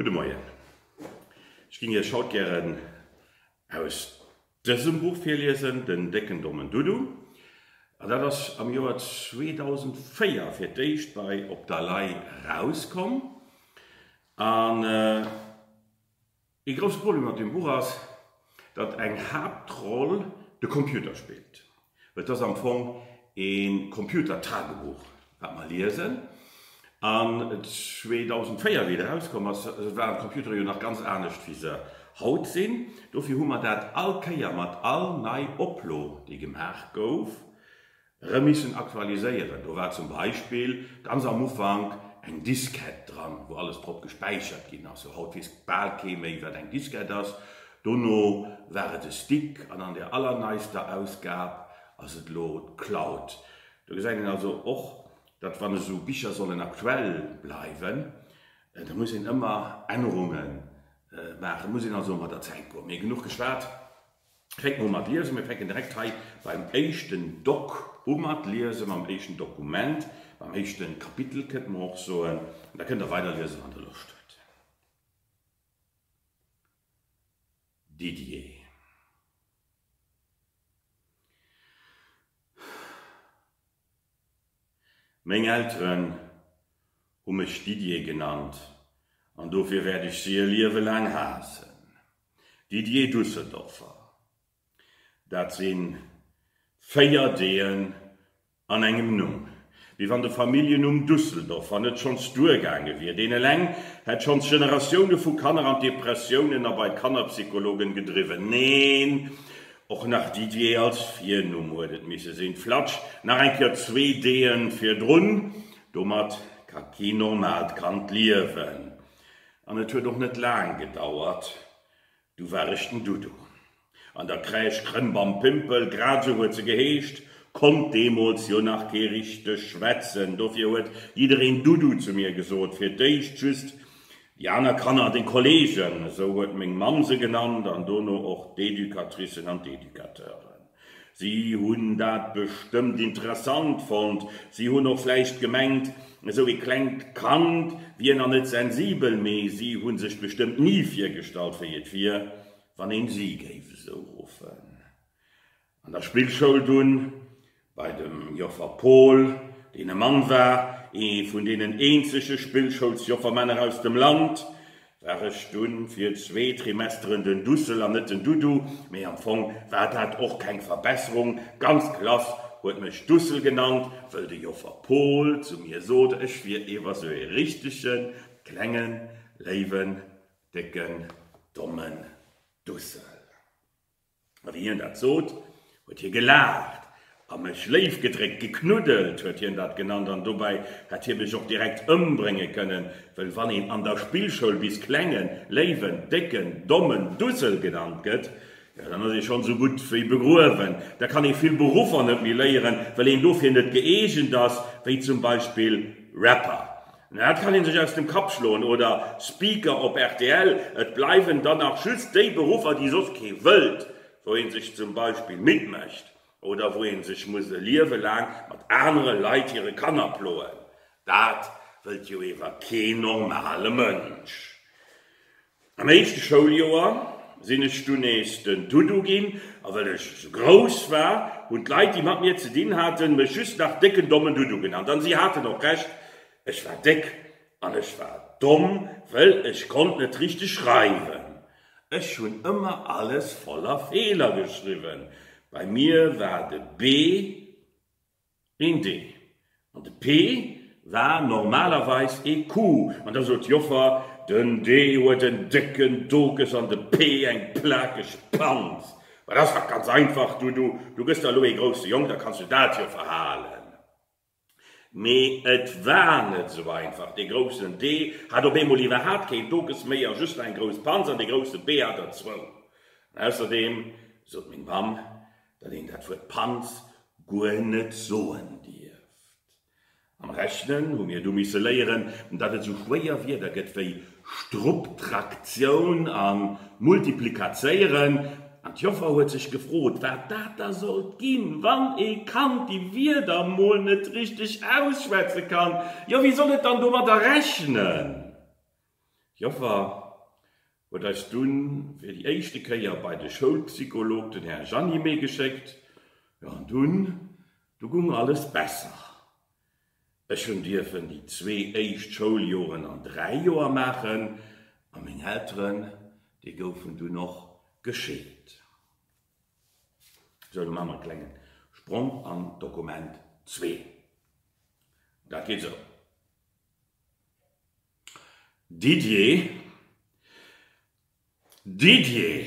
Gudde Moien. Ech ginn Iech haut gären aus dësem Buch virliesen, Den décken dommen Dudu. An dat ass am Joer 2004 fir d'éischt bei Op der Lay erauskomm. An Ee grousst Problem an dem Buch ass, datt eng Haaptroll de Computer spillt. Et ass am Fong ee Computer-Tagebuch, wat mer liesen. An 2004, wéi et erauskomm ass, waren d'Computere jo nach ganz anescht, wéi se haut sinn. Dofir hu mer dat all Kéier mat all nei Oplo, déi gemaach gouf, Erëm missen aktualiséieren. Do war zum Beispill ganz am Ufank eng Diskett dran, wou alles drop gespäichert ginn ass. Sou haut weess bal kee méi, wat eng Diskett ass. Dono war et e Stick an an der allerneister Ausgab ass et elo d'Cloud. Do gesäit een also och, datt wann esou Bicher sollen aktuell bleiwen, da muss een ëmmer Ännerunge maachen. Muss een also mat der Zäit goen. Mee genuch geschwat, Fänke mer u mat liesen. Mir fänken direkt hei beim éischten Doc u mat liesen, mam éischten Dokument, mam éischten Kapitel kënnte mer och soen. An da kënnt Der weiderliesen, wann Der Loscht hutt. Didier. Meng Elteren hu mech Didier genannt an dofir wäert ech si e Liewe laang haassen. Didier Düsseldorfer, Dat sinn véier Deeën an engem Numm. Wéi wann de Familljennumm Düsseldorfer net schonns duergaange wier. Deen eleng hätt schonns Generatioune vu Kanner an d'Depressiounen a bei d'Kannerpsychologen gedriwwen. Neen, och nach Didier als Virnumm huet et misse sinn. Flatsch, nach eng Kéier zwee Deeën virdrun, domat ka kee normaalt Kand liewen. An et huet och net laang gedauert, du war ech den Dudu. An der Crèche Krëmbampmpel, grad esou huet se geheescht, konnt deemools jo nach kee richteg schwätzen, dofir huet jiddereen Dudu zu mir gesot, fir d'éischt just déi aner Kanner an de Kollegen, esou huet meng Mamm se genannt, an dono och d'Educatricen an d'Educateuren. Si hunn dat bestëmmt interessant fonnt. Si hunn och vläicht gemengt, esou ee klengt Kand wier nach net sensibel, mee si hu sech bestëmmt ni virgestallt, wéi et wier, wann een si géif esou ruffen. An der Spillschoul dunn, bei dem Joffer Paul, deen e Mann war, ee vun deenen eenzege Spillschoulsjoffermänner aus dem Land, war ech dunn fir zwee Trimesteren den Dussel an net den Dudu, mee am Fong war dat och keng Verbesserung, d'ganz Klass huet mech Dussel genannt, wëll de Joffer Pol zu mir sot, ech wier ewer sou ee richtegen, klengen, léiwen, décken, dommen Dussel. Wann hien dat sot, huet hie gelaacht a mech léif gedréckt. Geknuddelt huet hien dat genannt an dobäi hätt hie mech och direkt ëmbrénge kënnen, wëll wann een an der Spillschoul bis Klengen, Léiwen, Décken, Dommen, Dussel genannt gëtt, jo dann ass ee schonn esou gutt wéi begruewen. Da kann ee vill Beruffer net méi léieren, wëll een dofir net gëeegent ass, wéi zum Beispill Rapper. Mä dat kann een sech aus dem Kapp schloen, oder Speaker op rtl, et bleiwen dann nach just déi Beruffer déi soss kee wëllt, wou een sech zum Beispill midd mécht, oder wou een sech muss e Liewe laang mat anere Leit hire Kanner ploen. Dat wëllt jo ewer kee normale Mënsch. Am éischte Schouljoer sinn ech dunn nees den Dudu ginn, a wëll ech esou grouss war, hunn d'Leit, déi mat mir ze dinn haten, mech just nach décken dommen Dudu genannt. An si haten och Recht, ech war déck an ech war domm, wëll ech konnt net richteg schreiwen. Ech hunn ëmmer alles voller Feeler geschriwwen. Bei mir war de B. Een Dee. An de Pee war normalerweis ee Kuh. An da sot d'Joffer, Den Dee huet en décken Dokes an de Pee eng plakeg Panz. Wat ass dat? Ganz einfach, Du, du, du gëss der elo ee grousse Jong, da kanns du dat jo verhalen. Mee et war net esou einfach. Dee groussen Dee hat op eemol iwwerhaapt keen Dokes méi a just eng grouss Panz. An dee grousse Pee hat der zwou. An ausserdeem, sot meng Mamm, datt een dat Wuert Panz guer net soen dierft. Am Rechnen hu mir du misse léieren, datt et sou schwéier Wierder gëtt wéi Strupptraktioun a multiplikazéieren, an d'Joffer huet sech gefrot, wat dat da sollt ginn, wann ee Kand déi Wierder mol net richteg ausschwätze kann. Jo, wéi soll et dann domadder rechnen? Joffer huet eis dunn fir déi éischte Kéier bei de Schoulpsycholog, den Här Jeannimé, geschéckt, jo an dunn, du gung alles besser. Ech hunn dierfen déi zwee éischt Schouljoren an dräi Joer maachen a meng Elteren, déi goufen dunn och gescheet. Sou, elo maache mer e klengen Sprong an d'Dokument zwee. Dat geet sou. Didier Didier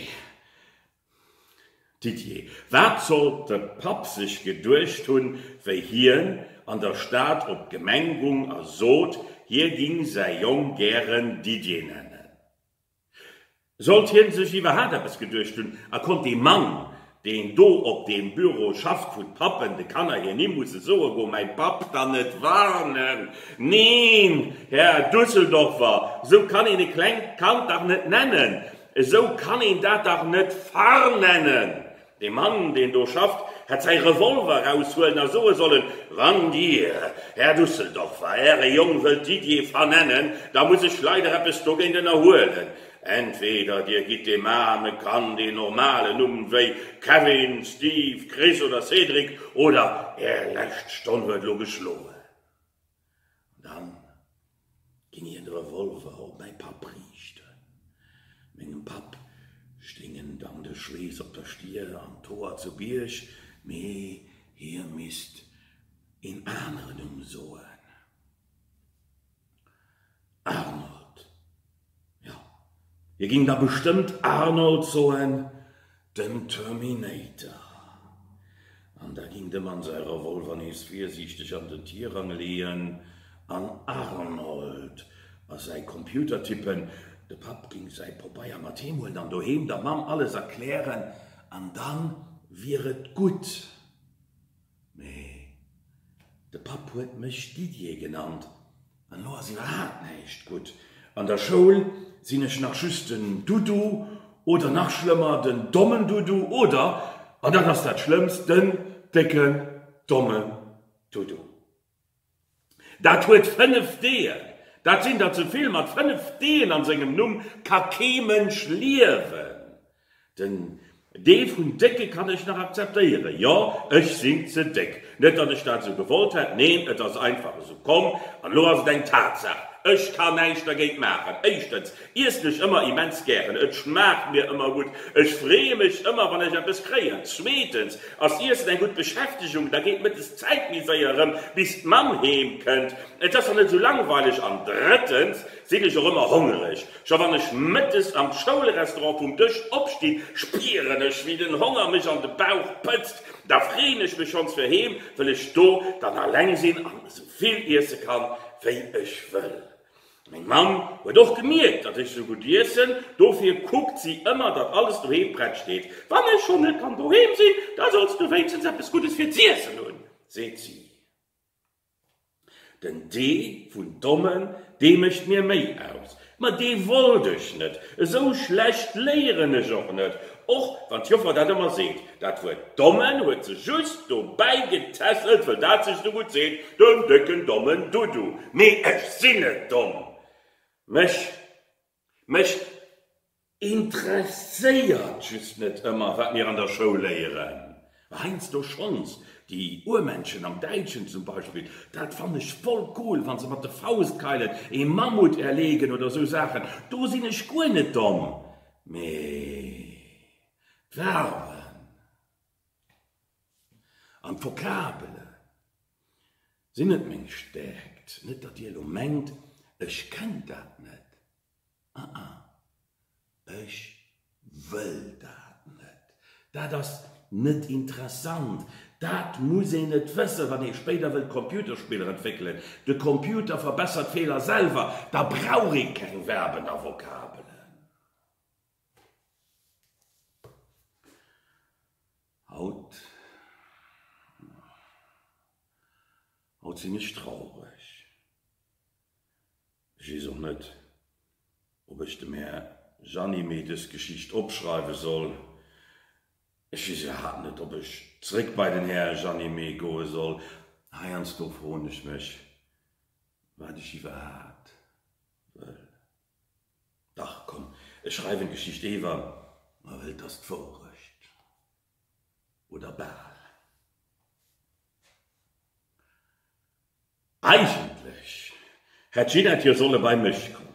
Didier Wat sollt de Papp sech geduecht hunn, wéi hien an der Stad op d'Gemeng gung a sot, hie ging säi Jong gären Didier nennen? Sollt hien sech iwwerhaapt eppes geduecht hunn a konnt dee Mann, deen do op deem Büro schafft, wou d'Pappen de Kanner hir Nimm musse soe wou mäin Papp, dann net warnen? Neen, Här Düsseldorfer, esou kann een e klengt Kand dach net nennen! Esou kann een dat dach net warnen! De Mann, deen do schafft, hätt säi Revolver eraushuelen a soe sollen, Wann Dir, Här Dusseldorfer, Äre Jong wëllt Didier vernennen, da muss ech leider eppes dogéint ënnerhuelen. Entweder Dir gitt deem aarme Kand een normalen Numm, wéi Kevin, Steve, Chris oder Cédric, oder Är lescht Stonn huet elo geschloen. An dann ging hien de Revolver op mäi Papp riichten. Mengem Papp stingen dann de Schweess op der Stir an d'Hoer zu Bierg, mee hie misst een anere Numm soen. Arnold. Jo, hie ging da bestëmmt Arnold soen, den Terminator. An da ging de Mann säi Revolver nees virsiichteg an den Tirang leeën an Arnold a säi Computer tippen. De Papp ging säi Pobeier mat heem huelen an doheem der Mamm alles erklären an dann wier et gutt. Mee de Papp huet mech Didier genannt an elo ass iwwerhaapt näischt gutt. An der Schoul sinn ech nach just den Dudu oder nach schlëmmer den dommen Dudu oder, an dat ass dat Schlëmmst, den décken dommen Dudu. Dat huet fënnef Deeër. Dat sinn der ze vill. Mat fënnef Deeën an sengem Numm ka kee Mënsch liewen. Den Dee vun Décke kann ech nach akzeptéieren. Jo, ech sinn ze déck. Net datt ech dat esou gewollt hätt, neen, et ass einfach esou komm an elo ass et eng Tatsaach. Ech ka näischt dergéint maachen. Éischtens. Iessen ech ëmmer immens gären, et schmaacht mir ëmmer gutt. Ech freeë mech ëmmer wann ech eppes kréien. Zweetens ass Iessen eng gutt Beschäftegung, da geet mëttes d'Zäit méi séier erëm bis d'Mamm heem kënnt, et ass dann net esou langweileg. An drëttens sinn ech och ëmmer hongereg, scho wann ech mëttes am Schoulrestaurant vum Dësch opstinn, spieren ech wéi den Honger mech an de Bauch pëtzt. Da freeën ech mech schonns fir heem, wëll ech do dann alleng sinn an esou vill iesse kann wéi ech wëll. Meng Mamm huet och gemierkt, datt ech sou gutt iessen, dofir kuckt si ëmmer, datt alles doheem prett steet. Wann ech schonn net kann doheem sinn, da solls du wéinstens eppes Guddes fir z'iessen hunn, seet si. Den Dee vun Dommen, dee mécht mir méi aus. Ma dee wollt ech net, esou schlecht léieren ech och net, och wann d'Joffer dat ëmmer seet. Dat Wuert Dommen huet se just dobäi getässelt, wëll dat sech esou gutt seet, den décken dommen Dudu. Mee ech sinn net domm. Mech, mech interesséiert just net ëmmer, wat mir an der Schoul léieren. Heiansdo schonns. Déi Urmenschen am Däitschen zum Beispill, dat fannen ech voll cool, wa se mat de Faustkeilen ee Mammut erleegen oder esou Saachen. Do sinn ech guer net domm. Mee. D'Verben an d'Vokabele sinn net meng Stärkt. Net datt dir elo mengt, ech kennt dat net. Aa, ech wëll dat net. Dat ass net interessant. Dat muss een net wëssen, wann ee spéider wëllt Computerspiller entwéckelen. De Computer verbessert Feeler selwer, da brauch ee keng Verben a Vokabelen. Haut haut sinn ech traureg. Ech weess och net, ob ech dem Här Gianni méi dës Geschicht opschreiwe soll. Ech weess iwwerhaapt net, ob ech zréck bei den Här Gianni méi goe soll. Heiansdo froen ech mech, wat ech iwwerhaapt wëll. Dach, komm, ech schreiwen d'Geschicht ewer, ma wëll t'ass d'Wourecht, oder bal. Eigentlech hätt Ginette jo solle bei mech kommen.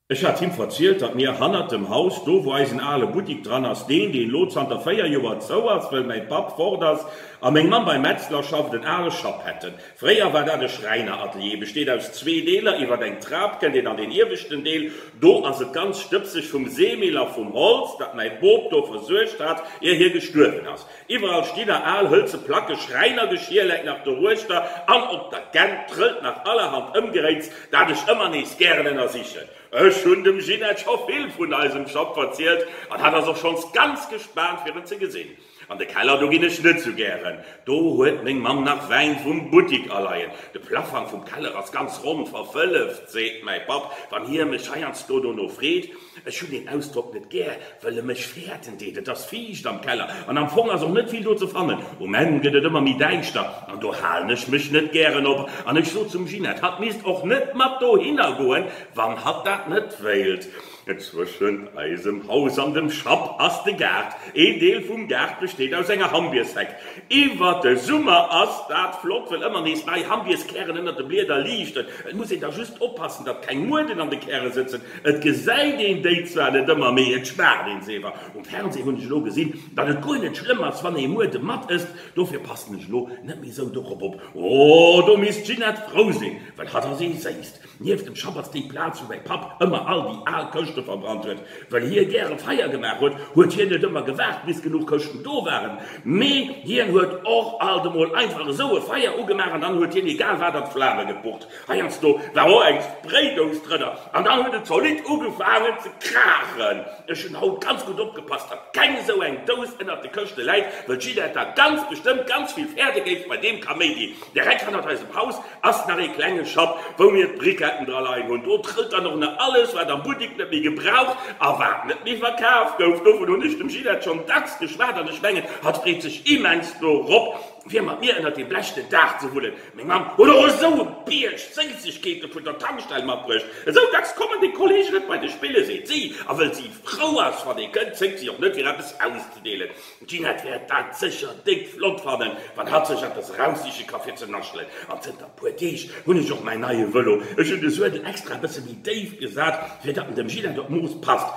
Ech hat him verzielt, datt mir hannert dem Haus, do wou eisen ale Buttik dran ass, deen, deen elo zanter véier Joer zou ass, wëll mäi Papp fort ass a meng Mamm beim Metzler schafft, en ale Schapp hätten. Fréier war dat e Schräineratelier, besteet aus zwee Deeler, iwwer eng Trap kënnt een an deen ieweschten Deel, do ass et ganz stëbseg vum Seemill a vum Holz, dat mäi Bop do versuergt hat, ier hie gestuerwen ass. Iwwerall sti nach al hëlze Placken, Schräinergeschir läit nach doruechter an op der Gänt trëllt nach allerhand Ëmgeréits, dat ech ëmmer nees gären ënnersichen. Ech hunn dem Ginette scho vill vun eisem Shop verzielt an hat ass och schonns ganz gespaant, fir en ze gesinn. An de Keller, do ginn ech net sou gären. Do huet meng Mamm nach Wäin vum Buttik aleien. De Plafank vum Keller ass ganz ronn verfëlleft, seet mäi Papp, wann hie mech heiansdo dono freet. Ech hunn deen Ausdrock net gär, wëll e mech fäerten deet. Et ass fiicht am Keller an am Fong ass och net vill do ze fannen. Um Enn gëtt et ëmmer méi däischter an do halen ech mech net gären op an ech sot zum Ginette, hatt misst och net mat dohinner goen, wann hatt dat net wéilt. Zwëschent eisem Haus an dem Schapp ass de Gaart. Een Deel vum Gaart besteet aus enger Hambiersheck. Iwwert de Summer ass dat flott, wëll ëmmer nees nei Hambierskären ënnert de Blieder liichten. Et muss een da just oppassen, datt keng Mueden an de Käre sëtzen. Et gesäit een déi zwar net ëmmer, mee et schmaacht een se iwwer. Um Fernsee hunn ech elo gesinn, datt et guer net schlëmm ass, wann ee Muede mat ësst. Dofir passen ech elo net méi esou dorop op. Oh, do misst d'Ginette frou sinn, wëll hatt ass ee séisst. Nieft dem Schapp ass déi Plaz, wou mäi Papp ëmmer all déi al Këschte verbrannt huet. Well hie gäre Feier gemaach huet, huet hien net ëmmer gewaart, bis genuch Këschten do waren, mee hien huet och alt emol einfach esou e Feier ugemaach an dann huet hien egal wat an d'Flame gepucht. Heiansdo war och eng Spraydose drënner an dann huet et zolidd ugefaangen ze kraachen. Ech hunn haut ganz gutt opgepasst, datt keng esou eng Dose ënnert de Këschte läit, well d'Ginette da ganz bestëmmt ganz vill Fäerde géif bei deem Kaméidi, direkt hannert eisem Haus, Ass nach ee klenge Schapp, wou mir d'Briquetten dra leien hunn. Do trëllt dann och nach alles, wat am Buttik net méi gebraucht a wat net méi verkaf gouf. Dovun hunn ech dem Ginette schonn dacks geschwat an ech mengen, hatt freet sech immens dorop, fir mat mir ënnert deem Blech den Dag ze wullen. Meng Mamm huet och esou e Bierg Séissegkeete vun der Tankstell matbruecht. Esou dacks kommen déi Kolleegen net bei de Spille, seet si. A wëll si frou ass, wann ee kënnt, zéckt si och net, fir eppes auszedeelen. D'Ginette wäert dat sécher déck flott fannen, wann hatt sech eppes eraussiche ka fir ze naschelen. An zënter puer Deeg hunn ech och mäin neie Vëlo. Ech hunn de Suedel extra e bësse méi déif gesat, fir datt en dem Ginette op d'Mooss passt.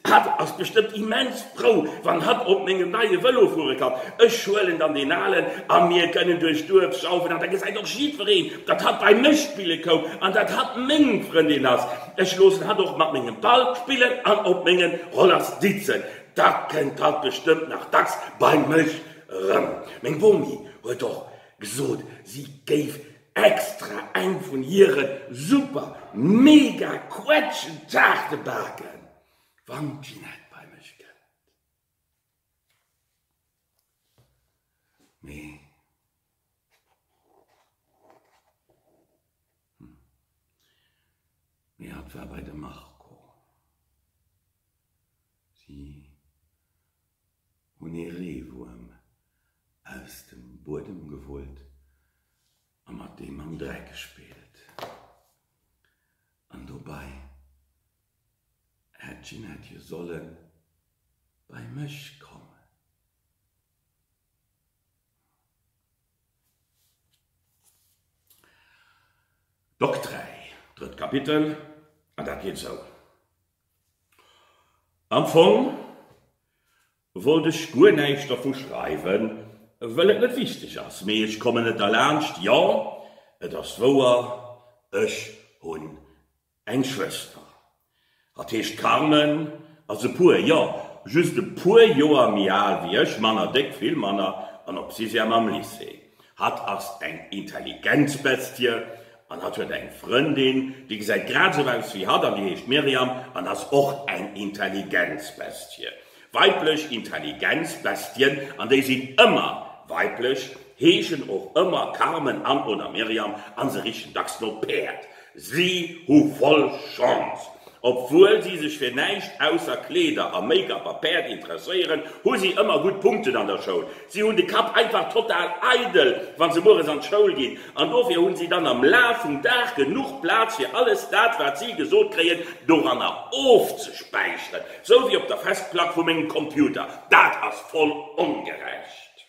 Hatt ass bestëmmt immens frou, wann hatt op mengem neie Vëlo fuere kann. Ech huelen dann deen alen a mir kënnen duerch d'Duerf schaufen. An da gesäit och jiddwereen, datt hatt bei mech spille koum an datt hatt meng Frëndin ass. Ech loossen hatt och mat mengem Ball spillen an op menge Roller sitzen. Dat kënnt haut bestëmmt nach dacks bei mech erëm. Meng Bomi huet och gesot, si géif extra eng vun hire super mega Quetschentaarte baken, wann d'Ginette bei mech kënnt. Mee hatt war bei de Marco. Si hunn ee Reewuerm aus dem Buedem geholt a mat deem am Dreck gespillt. An dobei hätt d'Ginette jo solle bei mech kommen. Bock 3, drëtt Kapitel, an dat geet esou. Am Fong wollt ech guer näischt dervu schreiwen, well et net wichteg ass, mee ech kommen net derlaanscht, jo, et ass wouer, ech hunn eng Schwëster, hatt heescht Carmen, ass e puer, jo, just e puer Joer méi al wéi ech, manner déck, vill manner, an op Sixième am Lycée. Hatt ass eng Intelligenzbestie an hatt huet eng Frëndin, déi gesäit grad esou aus wéi hatt an déi heescht Miriam an ass och eng Intelligenzbestie. Weiblech Intelligenzbestien, an déi sinn ëmmer weiblech, heeschen och ëmmer Carmen an, oder Miriam, a se richen dacks no Päerd, Si hu voll Chance! Obwuel si sech fir näischt ausser Kleeder a Make-up a Päerd interesséieren, hu si ëmmer gutt Punkten an der Schoul. Si hunn de Kapp einfach total eidel, wa se mueres an d'Schoul ginn, an dofir hunn si dann am Laf vum Dag genuch Plaz fir alles dat, wat si gesot kréien, doranner ofzespäicheren. Sou wéi op der Festplack vu mengem Computer. Dat ass voll ongerecht!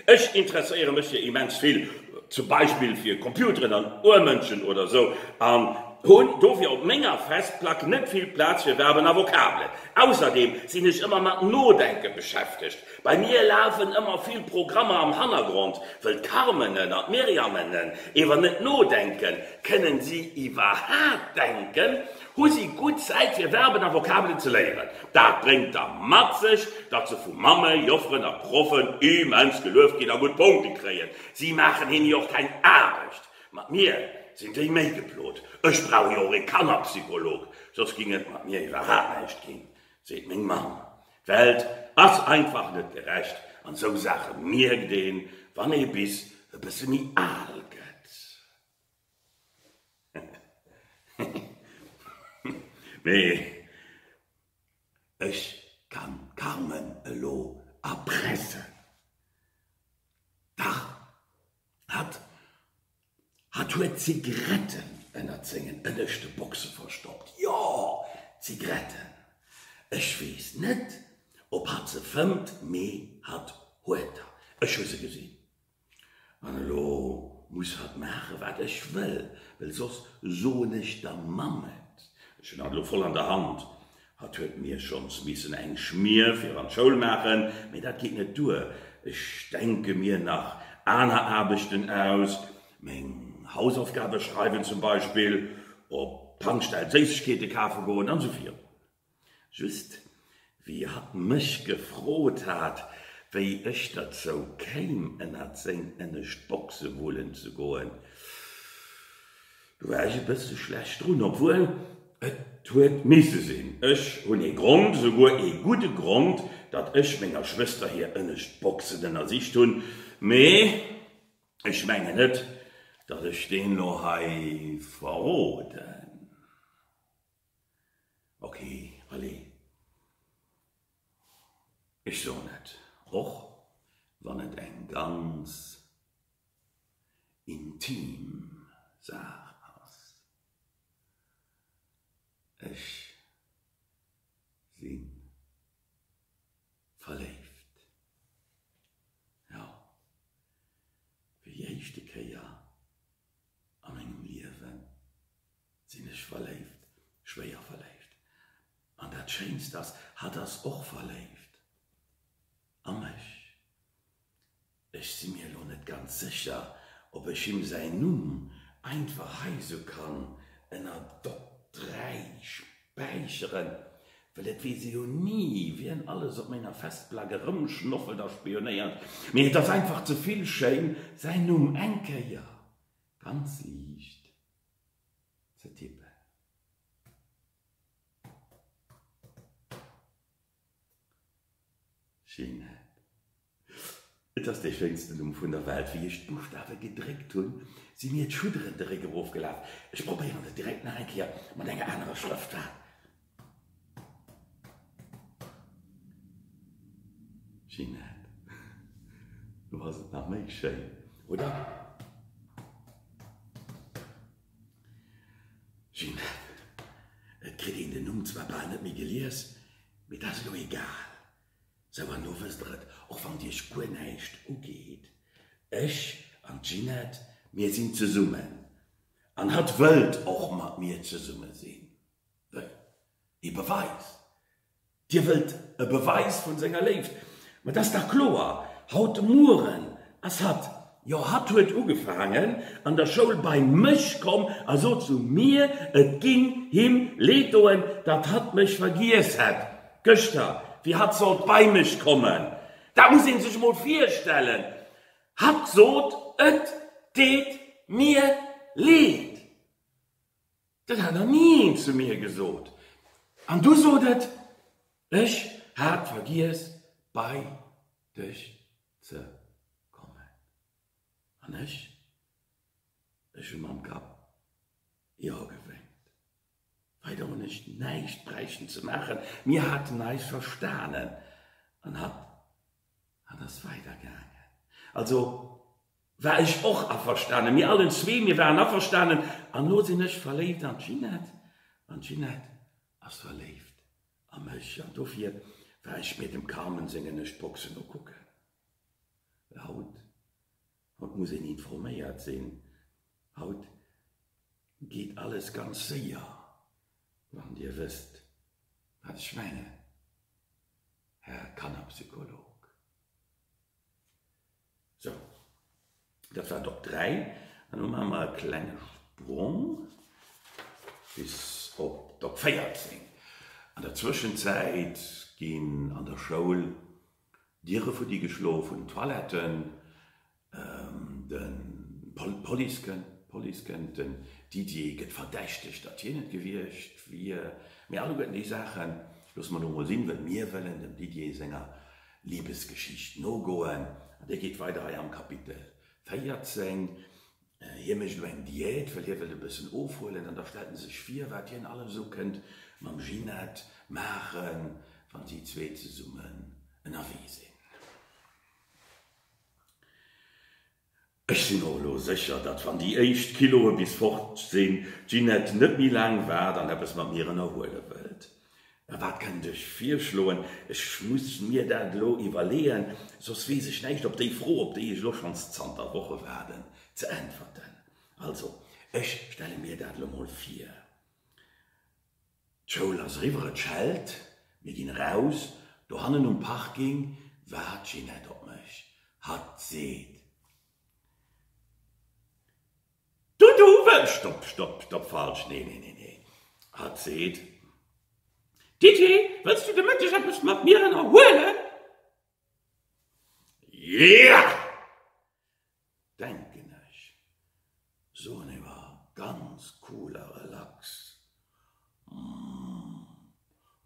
Ech interesséiere mech fir immens vill, zum Beispill fir Computeren an Urmënschen oder esou, an hunn dofir op menger Festplack net vill Plaz fir Verben a Vokabelen. Ausserdeem sinn ech ëmmer mat Nodenke beschäftegt. Bei mir lafen ëmmer vill Programmer am Hannergrond. Wëll d'Carmenen an d'Myriamenen ewer net nodenken, kënnen si iwwerhaapt denken? Husi gutt Zäit fir Verben a Vokabelen ze léieren. Dat bréngt da mat sech, datt se vu Mamme, Jofferen a Proffen immens gelueft ginn a gutt Punkte kréien. Si maachen hinne jo och keng Aarbecht. Mat mir sinn déi méi geplot. Ech brauch jo och ee Kannerpsycholog, soss géing et mat mir iwwerhaapt näischt ginn, seet meng Mamm. D'Welt ass einfach net gerecht an sou Saache mierkt een, wann ee bis e bësse méi al gëtt. Mee ech kann d'Carmen elo erpressen. Dach, hatt huet Zigaretten ënnert sengen ënneschte Boxen verstoppt. Jo, Zigaretten. Ech weess net, ob hatt se fëmmt, mee hatt huet der. Ech hu se gesinn. An elo muss hat maachen wat ech wëll, well soss soen ech der Mamm et. Ech hunn hat elo voll an der Hand. Hat huet mir schonns missen eng Schmier fir an d'Schoul maachen, mee dat geet net duer. Ech denke mir nach aner Aarbechten aus, meng Hausaufgabe schreiwen zum Beispill, op d'Tankstell Séissegkeete kafe goen an esou virun. Just wéi hatt mech gefrot hat, wéi ech derzou kéim, ënnert seng ënnescht Boxe wullen ze goen, do war ech e bësse schlecht drun, obwuel et huet misse sinn. Ech hunn ee Grond, souguer ee gudde Grond, datt ech menger Schwëster hir ënnescht Boxen ënnersicht hunn, mee ech mengen net, datt ech deen elo hei verroden. Ok allez ech soen et och wann et eng ganz intim Saach ass, ech si verléift. Jo, fir déi éischte Kéier a mengem Liewen Sinn ech verléift? Schwéier verléift. An dat Schéinst ass, hatt ass och verléift a mech. Ech si mir elo net ganz sécher, ob ech him säin Numm einfach hei sou kann ënner Dott 3 späicheren, well et weess ee jo ni, wien alles op menger Festplack erëmschnoffelt a spionéiert. Mee et ass einfach ze vill schéin, säin Numm eng Kéier ganz liicht ze tippen. Ginette, Et ass dee schéinsten Numm vun der Welt. Wéi ech d'Buchstawe gedréckt hunn, si mir d'Schudderen de Réck erofgelaf. Ech probéieren et direkt nach eng Kéier mat enger anerer Schrëftart. Ginette, lo ass et nach méi schéin, oder? Ginette, Et kritt een den Numm zwar bal net méi gelies, mee dat ass elo egal. Sou, an elo wësst der et, och wann et iech guer näischt ugeet, ech an d'Ginette, mir sinn zesummen, an hatt wëllt och mat mir zesumme sinn. wëll ee Beweis. Dir wëllt e Beweis vun senger Léift. Mä et ass dach kloer, haut de Mueren ass hatt, jo hatt huet ugefaangen an der Schoul bei mech komm a sot zu mir, et géing him Leed doen, datt hatt mech vergiess hätt, gëschter, wéi hatt sollt bei mech kommen. Dat muss ee sech emol virstellen. Hatt sot, et deet mir Leed. Dat hat nach ni een zu mir gesot. An du sot et, Ech hat vergiess, bei dech ze kommen. An ech, ech hu mam Kapp Jo gewénkt. Weider hunn ech näischt bräichten ze maachen. Mir haten eis verstanen an hatt An ass weider gaangen. Also war ech och averstanen. Mir allen zwee, mir waren averstanen. An elo sinn ech verléift an d'Ginette an d'Ginette ass verléift a mech. An dofir war ech mir dem Carmen sengen Ech boxen ukucken. Well haut, haut muss een informéiert sinn, haut geet alles ganz séier. Wann Dir wësst, wat ech mengen, Här Kannerpsycholog. Sou, dat war d'Op 3. An elo maache mer e klenge Sprong bis op d'Op 14. An der Zwëschenzäit ginn an der Schoul Diere fuddigeschlof hunn, d'Toiletten D'Police kënnt, den Didier gëtt verdächtegt, datt hien et gewiescht wier. Mee alleguerten déi Saachen loosse mer elo mol sinn, wëll mir wëllen dem Didier senger Libesgeschicht nogoen. An déi geet weider hei am Kapitel 14. Hie mécht elo eng Diät, wëll hie wëllt e bëssen ofhuelen. An da stellt en sech vir, wat hien alles esou kënnt mam Ginette maachen, wa si zwee zesummen ënnerwee sinn. Ech sinn och elo sécher, datt wann déi éischt Kiloe bis fort sinn, d'Ginette net méi laang waart an eppes mat mir ënnerhuele wëllt. Mä wat kënnt ech virschloen? Ech muss mir dat elo iwwerleeën, soss weess ech näischt op déi Fro, op déi ech elo schonns zanter Woche waarden, ze äntwerten. Also, ech stelle mir dat elo mol vir. D'Schoul ass eriwwer, et schellt, mir ginn eraus. Dohannen um Parking waart d'Ginette op mech. Hatt seet. Du, du, wëll. Stopp, stopp, stopp, falsch, nee, nee, nee, nee. Hatt seet. Diddie, wëlls du de Mëtteg eppes mat mir ënnerhuelen? Jeeaa! Denken ech, soen ewer ganz cool a relax. Hm,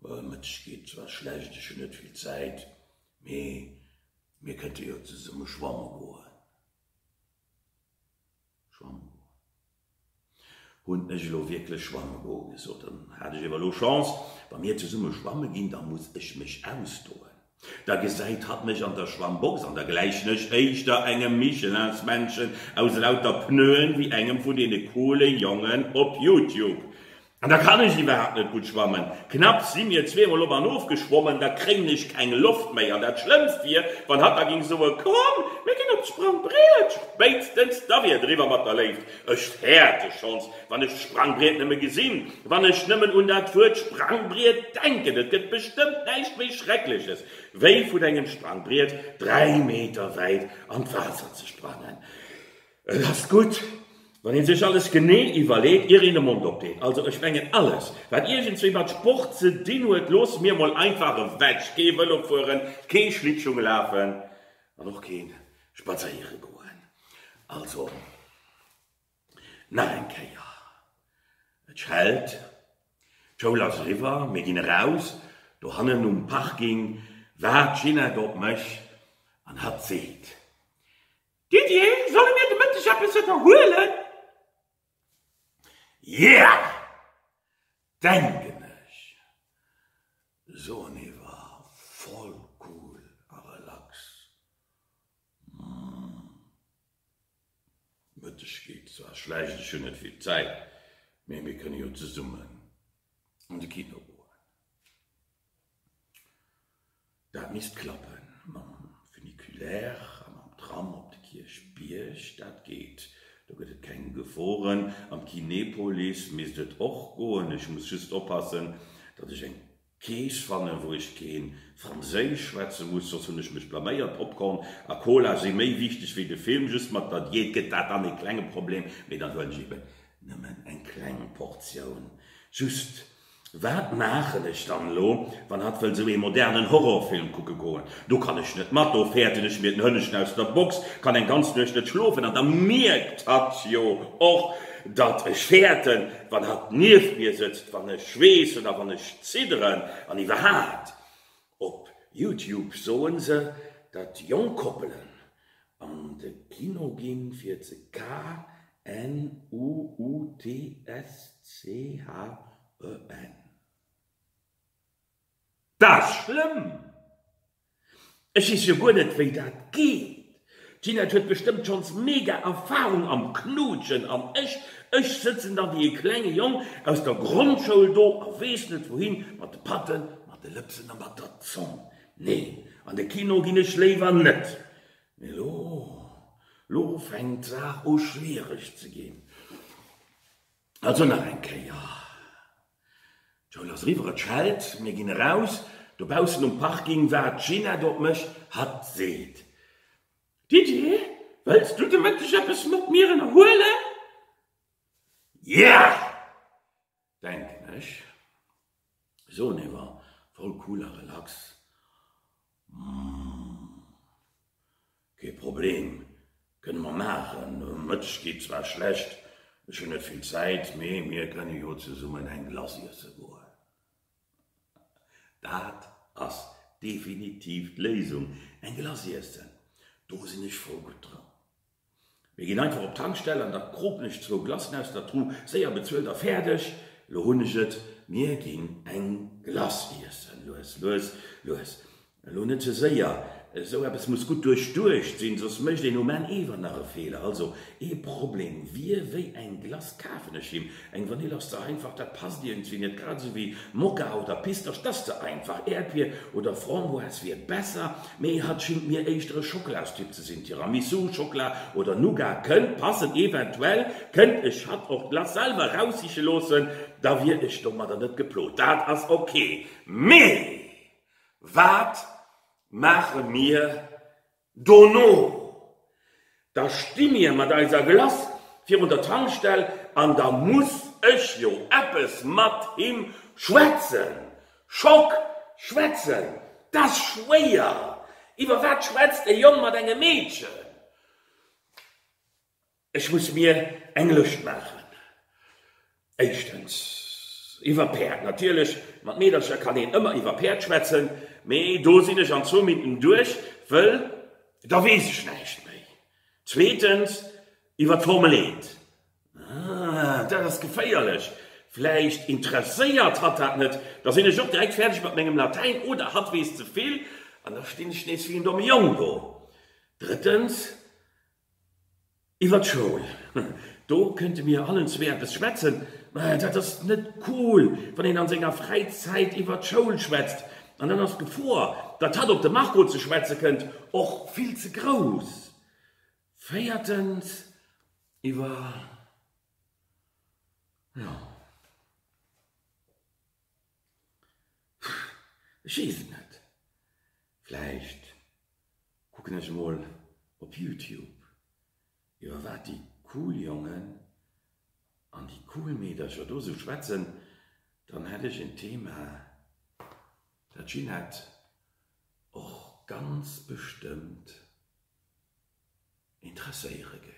e Mëtteg geet zwar schlecht, ech hunn net vill Zäit, mee mir kënnte jo zesumme schwamme goen. Hunn ech elo wierklech schwamme goe gesot? Dann hat ech ewer lo Chance. Wa mir zesumme schwamme ginn, da muss ech mech ausdoen. Da gesäit hatt mech an der Schwammbox an da gläichen ech éischter engem Michelinsmännchen aus lauter Pneuen, wéi engem vun deene coole Jongen op Youtube. An da kann ech iwwerhaapt net gutt schwammen. Knapps si mir zweemol op an of geschwommen, da kréien ech keng Loft méi. An dat Schlëmmst wier, wann hatt da géing soen, Komm, mir ginn op d'Sprangbriet! Spéitstens da wier et eriwwer mat der Léift. Ech fäerte schonns, wann ech d'Sprangbriet nëmme gesinn, wann ech nëmmen un dat Wuert Sprangbriet denken. Et gëtt bestëmmt näischt méi Schreckleches, wéi vun engem Sprangbriet dräi Meter wäit an d'Waasser ze sprangen. Et ass gutt, wann ee sech alles genee iwwerleet, ier een de Mond opdeet. Also ech mengen, alles, wat iergendswéi mat Sport ze dinn huet, loosse mir mol einfach ewech. Kee Vëlo fueren, kee Schlittschung lafen an och kee spadséiere goen. Also, nach eng Kéier, et schellt, d'Schoul ass eriwwer, mir ginn eraus, do hannen um Parking waart d'Ginette op mech an hat seet, Didier, solle mir de Mëtteg eppes ënnerhuelen? Yeah! Denken ech, soen hie war voll cool a relax. Hm, Mëtteg geet zwar schlecht, ech hunn net vill Zäit, mee mir kënne jo zesummen an de Kino goen. Dat misst klappe mam Funiculaire a mam Tram op de Kierchbierg. Dat geet, do gëtt et keng Geforen. Am Kinepolis misst et och goen. Ech muss just oppassen, datt ech eng Kees fannen, wou ech kee Franséisch schwätze muss, soss hunn ech mech blaméiert. Popcorn a Cola si méi wichteg wéi de Film. Just mat der Diät gëtt dat dann ee klenge Problem, mee dann huelen ech eben nëmmen eng kleng Portioun, just Wat maachen ech dann elo, wann hatt wëll sou ee modernen Horrorfilm kucke goen? Do kann ech net mat, do fäerten ech mir den Hënneschen aus der Box, kann eng ganz Nuecht net schlofen an da mierkt hatt jo och, datt ech fäerten, wann hatt nieft mir sëtzt, wann ech schweessen a wann ech zidderen an iwwerhaapt. Op Youtube soen se dat jonk Koppelen an de Kino ginn fir ze k-n-u-u-t-s-c-h-e-n. Daat ass schlëmm! Ech wees jo guer net wéi daat geet. D'Ginette huet bestëmmt schonns mega Erfahrung am Knuutschen an ech, ech sëtzen da wéi e klenge Jong aus der Grondschoul do a weess net wouhin mat de Patten, mat de Lëpsen a mat der Zong. Nee, an de Kino ginn ech léiwer net. Mee lo, lo fänkt d'Saach u schwiereg ze ginn. Also nach eng Kéier, d'Schoul ass eriwwer, et schellt, mir ginn eraus. Dobaussen um Parking waart d'Gina, dot mech, hatt seet, Didier, wëlls du de Mëtteg eppes mat mir ënnerhuelen? Yeah! denken ech. Soen ewer voll cool a relax. Kee Problem, kënne mer maachen. Um Mëtteg geet zwar schlecht, ech hunn net vill Zäit, mee mir kënne jo zesummen eng Glace iesse goen. Dat ass definitiv d'Léisung, eng Glace iessen, do sinn ech voll gutt dran. Mir gin einfach op d'Tankstell an da kropen ech zwou Glacen aus der Tru, séier bezuelt a färdeg. Lo hun ech et, mir gin eng Glace iessen. Lues, lues, lues, lo net ze séier, esou eppes muss gudd duerchduecht sin, soss mecht een um Enn ewer nach e Fehler. Also ee Problem wir, wéi eng Glace kaafen ech him? Eng Vanill ass ze einfach, dat passt iergendwéi net, grad esou wéi Mokka oder Pistasch, dat ass ze einfach. Äerdbier oder Framboise wier besser, mee hatt schingt mir éischter e Schokolastyp ze sinn. Tiramisu, Schockla oder Nougat kënnt passen. Eventuell kënnt ech hatt och d'Glace selwer raussiche loossen, da wier ech domadder net geplot. Dat ass ok. Mee wat maache mir Dono, da sti mir mat eiser Glace virun der Tankstell an da muss ech jo eppes mat him schwätzen. Schock, Schwätzen, dass schwéier! Iwwer wat schwätzt e Jong mat engem Meedchen? Ech muss mir eng Lëscht maachen. Éischtens iwwer Päerd. Natierlech, mat Meedercher kann een ëmmer iwwer Päerd schwätzen, mee do sinn ech an zwou Minuten duerch, wëll da weess ech näischt méi. Zweetens iwwer d'Formel eent. Ah, dat ass geféierlech. Vläicht interesséiert hatt dat net. Da sinn ech och direkt fäerdeg mat mengem Latäin oder hatt weess ze vill an da stinn ech nees wéi en domme Jong do. Drëttens Iwwer d'Schoul, do kënnte mir allen zwee eppes schwätzen, mä dat ass net cool, wann een an senger Fräizäit iwwer d'Schoul schwätzt. An dann ass d'Gefor, datt hatt op de Marco ze schwätze kënnt, och vill ze grouss. Véiertens, iwwer, jo. Ech weess et net. Vläicht kucken ech emol op Youtube, iwwer wat déi cool Jongen an déi cool Meedercher do esou schwätzen. Dann hätt ech en Thema, dat d'Ginette och ganz bestëmmt interesséiere géif.